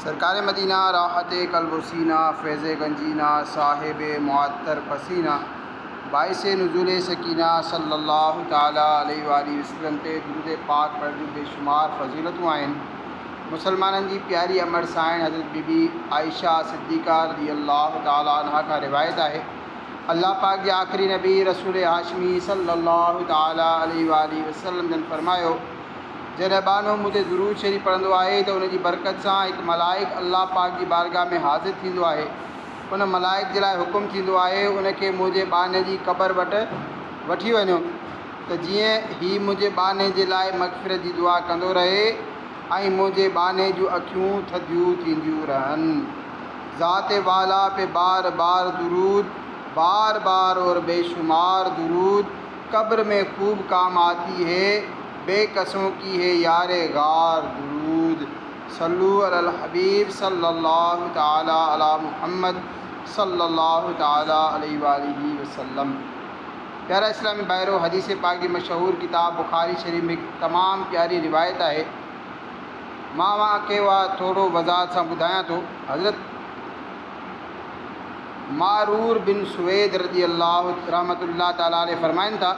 سرڪار مدينه، راحت قلب و سينه، فيض گنجينه، صاحب معطر پسينه، باعث نزول سکينه صلّي اللّٰه تعالٰي عليه واٰله وسلّم تي درود پاڪ پڙهڻ جون بيشمار فضيلتون آهن. مسلمانن جي پياري امڙ سانئڻ حضرت بي بي عائشه صديقه رضي اللّٰه تعالٰي عنها کان روايت آهي، الله پاڪ جي آخري نبي رسول هاشمي صلّي اللّٰه تعالٰي عليه واٰله وسلّم جن فرمايو، جڏهن ٻانهو منهنجي درود شريف پڙهندو آهي ته ان جي برڪت سان هڪ ملائڪ الله پاڪ جي بارگاهه ۾ حاضر ٿيندو آهي. ان ملائڪ جي لاء حڪم ٿيندو آهي ان کي منهنجي ٻانهي جي قبر وٽ وٺي وڃو ته جيئن هي منهنجي ٻانهي جي لاء مغفرت جي دعا ڪندو رهي ۽ منهنجي ٻانهي جون اکيون ٿڌيون ٿينديون رهن. ذات والا پي بار بار درود بار بار اور بيشمار درود. قبر مين خوب ڪام آتي هي بي قسون ڪي هي يار غار درود صلو علی الحبيب صلي الله تعالٰي علی محمد صلي الله تعالٰي عليه واٰله وسلم پيارا اسلامي ڀائرو حديث پاڪ جي مشهور ڪتاب بخاري شريف ۾ تمام پياري روايت آهي مان اوهان کي اها ٿورو وضاحت سان ٻڌايان ٿو حضرت معرور بن سويد رضي الله رحمة الله تعالٰي عليه فرمائن ٿا،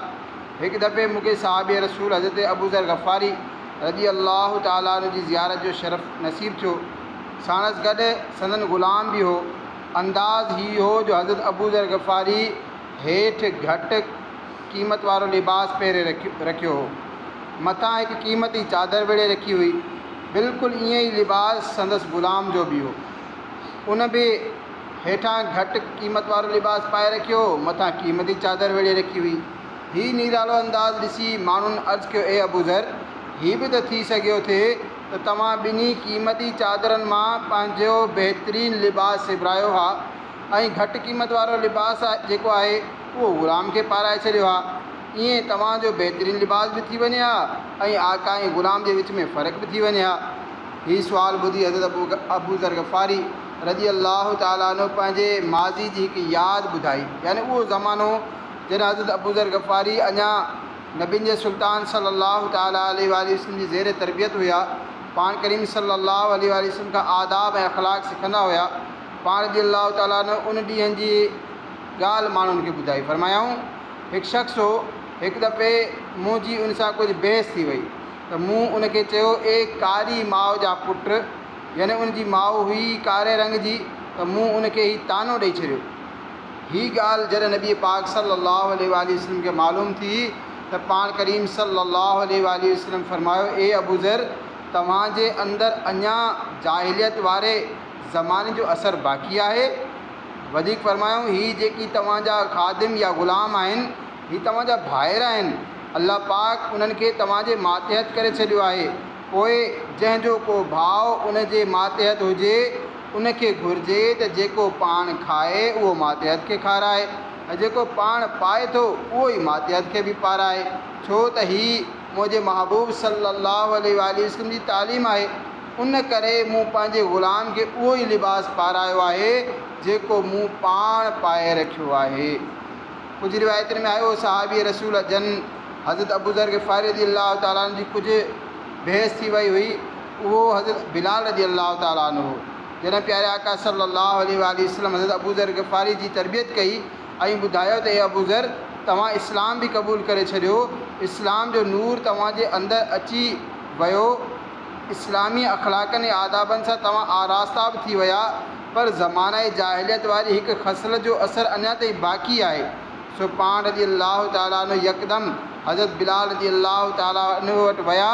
هڪ دفعي مون کي صحابي رسول حضرت ابوذر غفاري رضي الله تعالٰي عنه جي زيارت جو شرف نصيب ٿيو. ساڻس گڏ سندن غلام به هو. انداز هي هو جو حضرت ابوذر غفاري هيٺ گهٽ قيمت وارو لباس پهري رکيو هو. مٿان هڪ قيمتي چادر ويڙهي رکي هئي. بلڪل ائين ئي لباس سندس غلام جو به هو. ان به هيٺان گهٽ قيمت وارو لباس پائي رکيو هو، مٿان قيمتي چادر ويڙهي رکي هئي. هي نيرالو انداز ڏسي ماڻهن عرض ڪيو، اي ابوذر! هي به ته ٿي سگهيو ٿي ته توهان ٻنهي قيمتي چادرن مان پنهنجو بهترين لباس سبرايو ها ۽ گهٽ قيمت وارو لباس جيڪو آهي، اهو غلام کي پارائي ڇڏيو ها. ايئن توهان جو بهترين لباس به ٿي وڃي ها ۽ آقا ۽ غلام جي وچ ۾ فرق به ٿي وڃي ها. هي سوال ٻڌي حضرت ابوذر غفاري رضي الله تعالٰي عنه پنهنجي ماضي جي هڪ ياد ٻڌائي يعني اهو زمانو جڏهن حضرت ابوذر غفاري اڃا نبين جي سلطان صلّي اللّٰه تعالٰي عليه واٰله وسلّم جي زير تربيت هيا، پاڻ ڪريم صلّي اللّٰه عليه واٰله وسلّم کان آداب ۽ اخلاق سکندا هيا، پاڻ رضي الله تعالٰي عنه ان ڏينهن جي ڳالهه ماڻهن کي ٻڌائي فرمايائون، هڪ شخص هو، هڪ دفعي منهنجي ان سان ڪجهه بحث ٿي وئي. ته مون ان کي چيو، اي ڪاري ماء جا پٽ! يعني ان جي ماء هئي ئي ڪاري رنگ جي ته مون ان کي هي طعنو ڏئي ڇڏيو. هي ڳالهه جڏهن نبي پاڪ صلّي اللّٰه عليه واٰله وسلّم کي معلوم ٿي ته پاڻ ڪريم صلّي اللّٰه عليه واٰله وسلّم فرمايو، اي ابوذر! توهان جي اندر اڃا جاهليت واري زماني جو اثر باقي آهي؟ وڌيڪ فرمايائون، هي جيڪي توهان جا خادم يا غلام آهن، هي توهان جا ڀائر آهن، الله پاڪ انهن کي توهان جي ماتحت ڪري ڇڏيو آهي، پوء جنهن جو ڪو ڀاء ان جي ماتحت هجي، ان کي گهرجي ته جيڪو پاڻ کائي اهو ماتحت کي کارائي ۽ جيڪو پاڻ پائي ٿو اهو ئي ماتحت کي به پارائي، ڇو ته هي منهنجي محبوب صلّي اللّٰه عليه واٰله وسلّم جي تعليم آهي، ان ڪري مون پنهنجي غلام کي اهو ئي لباس پارايو آهي، جيڪو مون پاڻ پائي رکيو آهي. ڪجهه روايتن ۾ آيو، صحابي رسول جن حضرت ابوذر غفاري رضي الله تعالٰي عنه جي ڪجهه بحث ٿي وئي هئي، اهو حضرت بلال رضي الله تعالٰي عنه هو، جنھن پياري آقا صلّي اللّٰه عليه واٰله وسلّم حضرت ابوذر غفاري جي تربيت ڪئي ۽ ٻڌايو ته اي ابوذر! توهان اسلام به قبول ڪري ڇڏيو، اسلام جو نور توهان جي اندر اچي ويو، اسلامي اخلاقن ۽ آدابن سان توهان آراستا به ٿي ويا، پر زمانه جاهليت واري هڪ خصلت جو اثر اڃا تائين باقي آهي، سو پاڻ رضي الله تعالٰي عنه يڪدم حضرت بلال رضي الله تعالٰي عنه وٽ ويا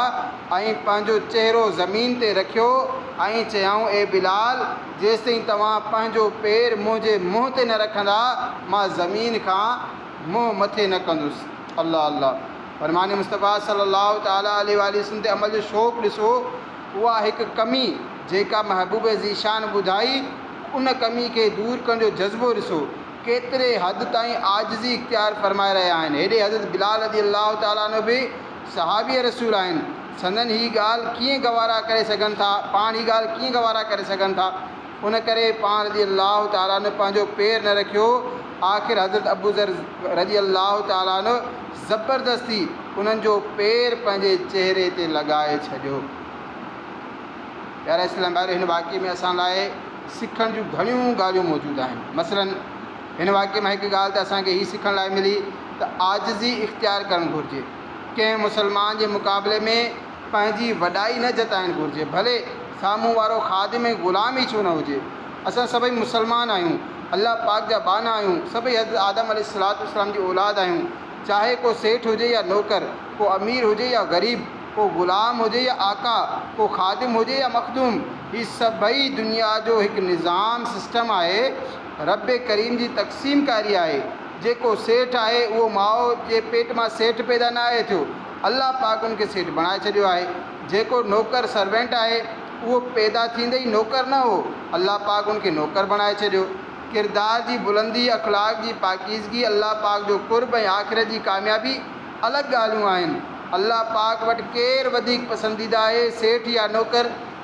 ۽ پنهنجو چهرو زمين تي رکيو ۽ چيائون اي بلال! جيستائين توهان پنهنجو پير منهنجي منهن تي نه رکندا مان زمين کان منهن مٿي نه ڪندس. الله الله فرمان مصطفيٰ صلي الله تعالٰي عليه واٰله وسلم تي عمل جو شوق ڏسو اها هڪ ڪمي جيڪا محبوب ذيشان ٻڌائي ان ڪمي کي دور ڪرڻ جو جذبو ڏسو ڪيتري حد تائين عاجزي اختيار فرمائي رهيا آهن هيڏي حضرت بلال رضي الله تعالٰي عنه به صحابي رسول آهن سندن هي ڳالهه ڪيئن گوارا ڪري سگهن ٿا پاڻ هي ڳالهه ڪيئن گوارا ڪري سگهن ٿا. ان ڪري پاڻ رضي الله تعالٰي عنه پنهنجو پير نه رکيو، آخر حضرت ابوذر رضي الله تعالٰي عنه زبردستي انهن جو پير پنهنجي چهري تي لڳائي ڇڏيو. پيارا اسلامي ڀائرو! هن واقعي ۾ اسان لاء سکڻ جون گهڻيون ڳالهيون موجود آهن. مثلاً هن واقعي مان هڪ ڳالهه ته اسان کي هي سکڻ لاء ملي ته عاجزي اختيار ڪرڻ گهرجي. ڪنهن مسلمان جي مقابلي ۾. پنهنجي وڏائي نه جتائڻ گهرجي ڀلي سامهون وارو خادم ۽ غلام ئي ڇو نه هجي. اسان سڀئي مسلمان آهيون، الله پاڪ جا ٻانها آهيون، سڀئي حضرت آدم عليه السلام جي اولاد آهيون، چاهي ڪو سيٺ هجي يا نوڪر، ڪو امير هجي يا غريب، ڪو غلام هجي يا آقا، ڪو خادم هجي يا مخدوم، هي سڀئي دنيا جو هڪ نظام، سسٽم، آهي، ربّ ڪريم جي تقسيم ڪاري آهي، جيڪو سيٺ آهي اهو ماء جي پيٽ مان سيٺ پيدا نه آهي ٿيو، الله پاڪ ان کي سيٺ بڻائي ڇڏيو آهي. جيڪو نوڪر، Servant، آهي، اهو پيدا ٿيندي ئي نوڪر نه هو، الله پاڪ ان کي نوڪر بڻائي ڇڏيو. ڪردار جي بلندي، اخلاق جي پاڪيزگي، الله پاڪ جو قرب ۽ آخرت جي ڪاميابي الڳ ڳالهيون آهن. الله پاڪ وٽ ڪير وڌيڪ پسنديده آهي، سيٺ يا نوڪر؟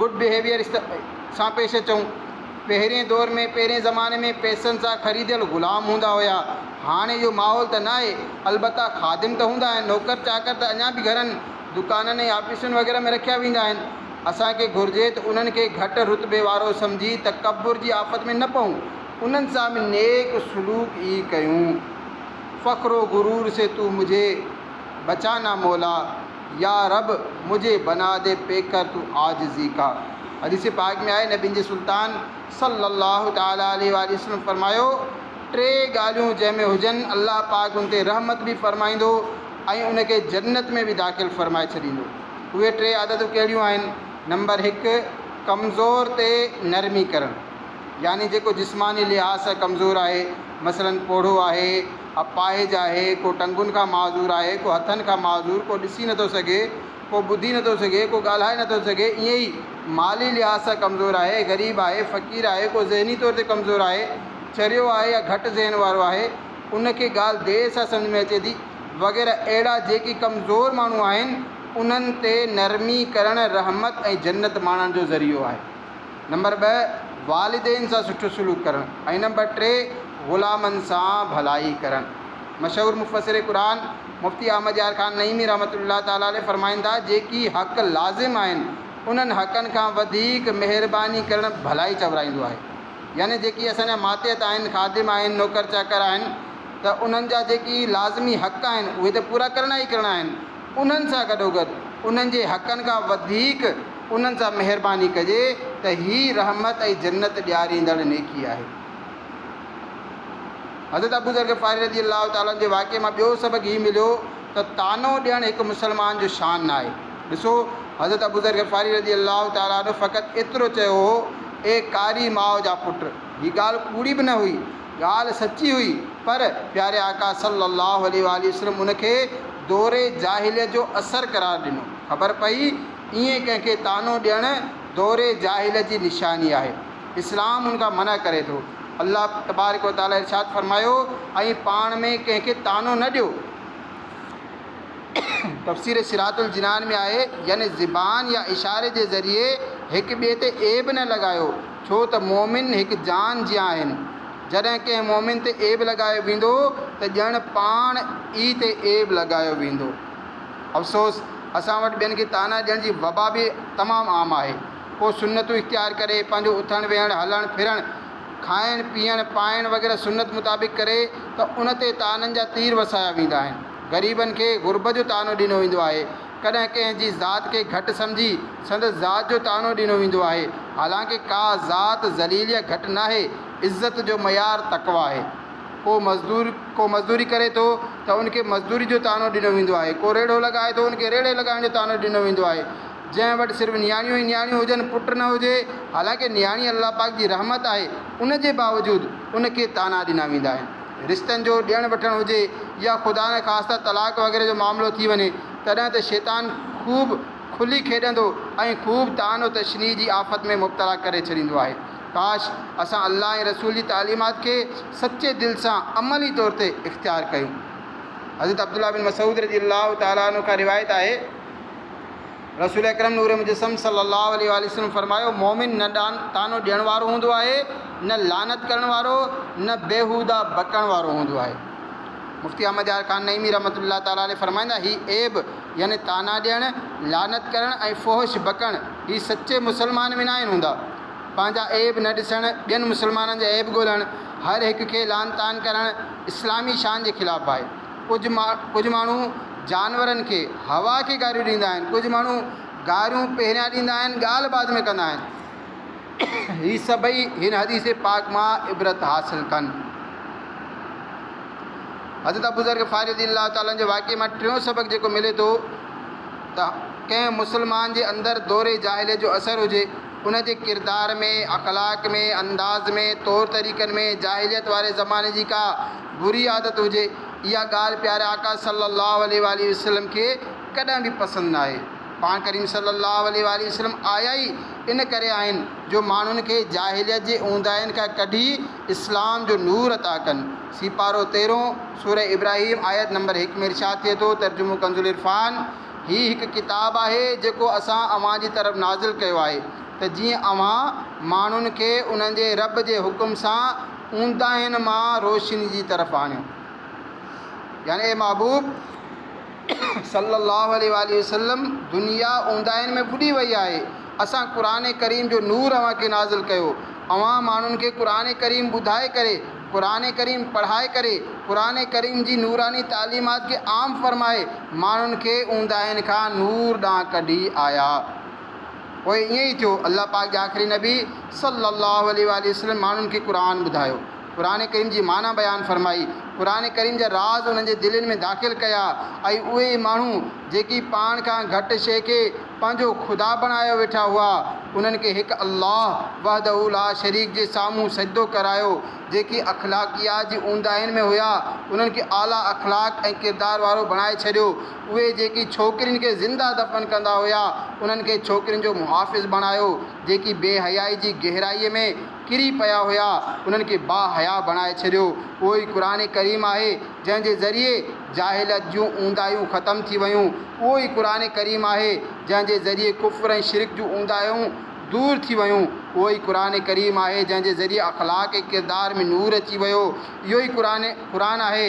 گڊ بهيويئر سان پيش اچون. پهرين دور ۾ پهرين زماني ۾ پئسن سان خريديل غلام هوندا هيا. هاڻي اهو ماحول ته ناهي. البته خادم ته هوندا آهن. نوڪر چاڪر ته اڃا به گهرن، دڪانن ۽ آفيسن وغيره ۾ رکيا ويندا آهن. اسان کي گهرجي ته انهن کي گهٽ رتبي وارو سمجهي تڪبر جي آفت ۾ نه پئون. انهن سان به نيڪ سلوڪ ئي ڪيون. فخر و غرور سي تو مجهي بچانا مولا. يا رب مجھي بنا دي پي ڪر تو عاجزي ڪا. حديث پاڪ ۾ آهي، نبين جي سلطان صلّي اللّٰه تعالٰي عليه واٰله وسلّم فرمايو، ٽي ڳالهيون جنهن ۾ هجن الله پاڪ ان تي رحمت به فرمائيندو ۽ ان کي جنّت ۾ به داخل فرمائي ڇڏيندو. اهي ٽي عادتون ڪهڙيون آهن؟ نمبر هڪ، ڪمزور تي نرمي ڪرڻ يعني جيڪو جسماني لحاظ سان ڪمزور آهي مثلاً پوڙهو آهي، اپاهج آهي، ڪو ٽنگن کان معذور آهي، ڪو هٿن کان معذور، ڪو ڏسي نٿو سگهي، ڪو ٻڌي نٿو سگهي، ڪو ڳالهائي نٿو سگهي، ائين ئي مالي لحاظ سان ڪمزور آهي، غريب آهي، فقير آهي، ڪو ذهني طور تي ڪمزور آهي، چريو آهي يا گهٽ ذهن وارو آهي، ان کي ڳالهه دير سان سمجهه ۾ اچي ٿي، وغيره اهڙا جيڪي ڪمزور ماڻهو آهن، انهن تي نرمي ڪرڻ رحمت ۽ جنت ماڻڻ جو ذريعو آهي. نمبر ٻه، والدين سان سٺو سلوڪ ڪرڻ ۽ نمبر ٽي، غلامن سان ڀلائي ڪرڻ. مشهور مفسر قرآن مفتي احمد يار خان نعيمي رحمة الله تعالٰي عليه فرمائن ٿا، جيڪي حق لازم آهن، انهن حقن کان وڌيڪ مهرباني ڪرڻ ڀلائي چورائيندو آهي. يعني جيڪي اسان جا ماتحت آهن، خادم آهن، نوڪر چاڪر آهن ته انهن جا جيڪي لازمي حق آهن، اهي ته پورا ڪرڻا ئي ڪرڻا آهن. انهن سان گڏوگڏ انهن جي حقن کان وڌيڪ انهن سان مهرباني ڪجي ته هي رحمت ۽ جنت ڏياريندڙ نيڪي آهي. حضرت ابوذر غفاري رضي الله تعالٰي عنه جي واقعي مان ٻيو سبق هي مليو ته طعنو ڏيڻ هڪ مسلمان جو شان نه آهي. ڏسو حضرت ابوذر غفاري رضي الله تعالٰي عنه فقط ايترو چيو هو، اي ڪاري ماء جا پٽ! هي ڳالهه ڪوڙي به نه هئي، ڳالهه سچي هئي پر پياري آقا صلّي اللّٰه عليه واٰله وسلّم ان کي دور جاهليت جو اثر قرار ڏنو. خبر پئي ائين ڪنهن کي طعنو ڏيڻ دور جاهليت جي نشاني آهي. اسلام ان کان منع ڪري ٿو. الله تبارڪ و تعالٰي ارشاد فرمايو، ۽ پاڻ ۾ ڪنهن کي طعنو نه ڏيو. تفسير صراط الجنان ۾ آهي، يعني زبان يا اشاري جي ذريعي هڪ ٻئي تي عيب نه لڳايو. ڇو ته مؤمن هڪ جان جيان آهن، جڏهن ڪنهن مؤمن تي عيب لڳايو ويندو ته ڄڻ پاڻ ئي تي عيب لڳايو ويندو. افسوس! اسان وٽ ٻين کي طعنا ڏيڻ جي وبا به تمام عام آهي. ڪو سنتون اختيار ڪري، پنهنجو اٿڻ ويهڻ، هلڻ ڦرڻ، کائڻ پيئڻ، پائڻ وغيره سنت مطابق ڪري ته ان تي طعنن جا تير وسايا ويندا آهن. غريبن کي غربت جو طعنو ڏنو ويندو آهي ڪڏهن ڪنهن جي ذات کي گهٽ سمجهي سندس ذات جو طعنو ڏنو ويندو آهي، حالانڪه ڪا ذات ذليل يا گهٽ ناهي، عزت جو معيار تقويٰ آهي. ڪو مزدور ڪو مزدوري ڪري ٿو ته ان کي مزدوري جو طعنو ڏنو ويندو آهي، ڪو ريڙهو لڳائي ٿو ان کي ريڙهي لڳائڻ جو طعنو ڏنو ويندو آهي، جنهن وٽ صرف نياڻيون ئي نياڻيون هجن پٽ نه هجي، حالانڪه نياڻي الله پاڪ جي رحمت آهي، ان جي باوجود ان کي طعنا ڏنا ويندا آهن. رشتن جو ڏيڻ وٺڻ هجي يا خدا نخواسته طلاق وغيره جو معاملو ٿي وڃي تڏهن ته شيطان خوب کلي کيڏندو ۽ خوب طعن و تشنيع جي آفت ۾ مبتلا ڪري ڇڏيندو آهي. ڪاش اسان الله ۽ رسول جي تعليمات کي سچي دل سان عملي طور تي اختيار ڪيون. حضرت عبدالله بن مسعود رضي الله تعالٰي عنه کان روايت آهي. رسول اڪرم نور مجسم صلّي اللّٰه عليه واٰله وسلّم فرمايو، مؤمن نه طعنو ڏيڻ وارو هوندو آهي، نه لعنت ڪرڻ وارو، نه بيهوده بڪڻ وارو هوندو آهي. مفتي احمد يار خان نعيمي رحمة الله تعالٰي عليه فرمائيندا، هي عيب، يعني طعنا ڏيڻ، لعنت ڪرڻ ۽ فحش بڪڻ، هي سچي مسلمان ۾ ناهن هوندا. پنهنجا عيب نه ڏسڻ، ٻين مسلمانن جا عيب ڳولڻ، هر هڪ کي لعن طعن ڪرڻ، اسلامي شان جي خلاف آهي. ڪجهه ما ڪجهه ماڻهو جانورن کي، هوا کي گاريون ڏيندا آهن. ڪجهه ماڻهو گاريون پهريان ڏيندا آهن، ڳالهه بعد ۾ ڪندا آهن. هي سڀئي هن حديث پاڪ مان عبرت حاصل ڪن. حضرت ابوذر غفاري رضي الله تعالٰي عنه جي واقعي مان ٽيون سبق جيڪو ملي ٿو ته ڪنهن مسلمان جي اندر دور جاهليت جو اثر هجي، ان جي ڪردار ۾، اخلاق ۾، انداز ۾، طور طريقن ۾، جاهليت واري زماني جي ڪا بري عادت هجي، اها ڳالهه پياري آقا صلّي اللّٰه عليه واٰله وسلّم کي ڪڏهن به پسند نه آئي. پاڻ ڪريم صلّي اللّٰه عليه واٰله وسلّم آيا ئي ان ڪري آهن جو ماڻهن کي جاهليت جي اونداهين کان ڪڍي اسلام جو نور عطا ڪن. سيپارو تيرهون، سورة ابراهيم، آيت نمبر هڪ ۾ ارشاد ٿئي ٿو، ترجمو ڪنزالعرفان، هي هڪ ڪتاب آهي جيڪو اسان اوهان جي طرف نازل ڪيو آهي ته جيئن اوهان ماڻهن کي انهن جي ربّ جي حڪم سان اونداهين مان روشني جي طرف آڻيو يعني اي محبوب صلّي اللّٰه عليه واٰله وسلّم دنيا اونداهين ۾ ٻڏي وئي آهي اسان قرآن ڪريم جو نور اوهان کي نازل ڪيو اوهان ماڻهن کي قرآن ڪريم ٻڌائي ڪري قرآن ڪريم پڙهائي ڪري قرآن ڪريم جي نوراني تعليمات کي عام فرمائي ماڻهن کي اونداهين کان نور ڏانهن ڪڍي آيا. پوء ائين ئي ٿيو. الله پاڪ جي آخري نبي صلّي اللّٰه عليه واٰله وسلّم ماڻهن کي قرآن ٻڌايو، قرآن ڪريم جي معنيٰ بيان فرمائي، قرآن ڪريم جا راز انهن جي دلين ۾ داخل ڪيا ۽ اهي ئي ماڻهو جيڪي پاڻ کان گهٽ شيء کي پنهنجو خدا بڻايو ويٺا هئا، انهن کي هڪ الله وحده لا شريڪ جي سامهون سجدو ڪرايو، جيڪي اخلاقيات جي اونداهين ۾ هيا، انهن کي اعليٰ اخلاق ۽ ڪردار وارو بڻائي ڇڏيو. اهي جيڪي ڇوڪرين کي زنده دفن ڪندا هيا، انهن کي ڇوڪرين جو محافظ بڻايو، جيڪي بي حيائي جي گهرائي ۾ ڪري پيا هيا، انهن کي با حيا بڻائي ڇڏيو. اهو ئي قرآن ڪريم آهي، جنهن جي ذريعي جاهليت جون اونداهيون ختم ٿي ويون. اهو ئي قرآن ڪريم آهي، جنهن جي ذريعي ڪفر ۽ شرڪ جون اونداهيون دور ٿي ويون. اهو ئي قرآن ڪريم آهي، جنهن جي ذريعي اخلاق ۽ ڪردار ۾ نور اچي ويو. اهو ئي قرآن آهي،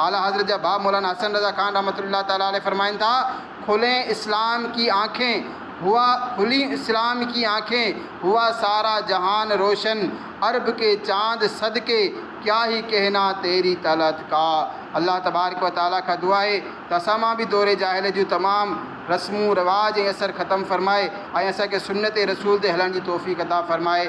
اعليٰ حضرت جا باب مولانا حسن رضا خان رحمة الله تعالٰي عليه فرمائن ٿا، کلين اسلام ڪي آنکين ھوا کلين اسلام ڪي آنکين ھوا سارا جھان روشن عرب ڪي چاند صدقي ڪيا ھي ڪهنا تيري طلعت ڪا الله تبارڪ و تعالٰي کان دعا آھي ته اسان مان به دور جاھليت جون تمام رسمون رواج ۽ اثر ختم فرمائي ۽ اسان کي سنت رسول تي ھلڻ جي توفيق عطا فرمائي.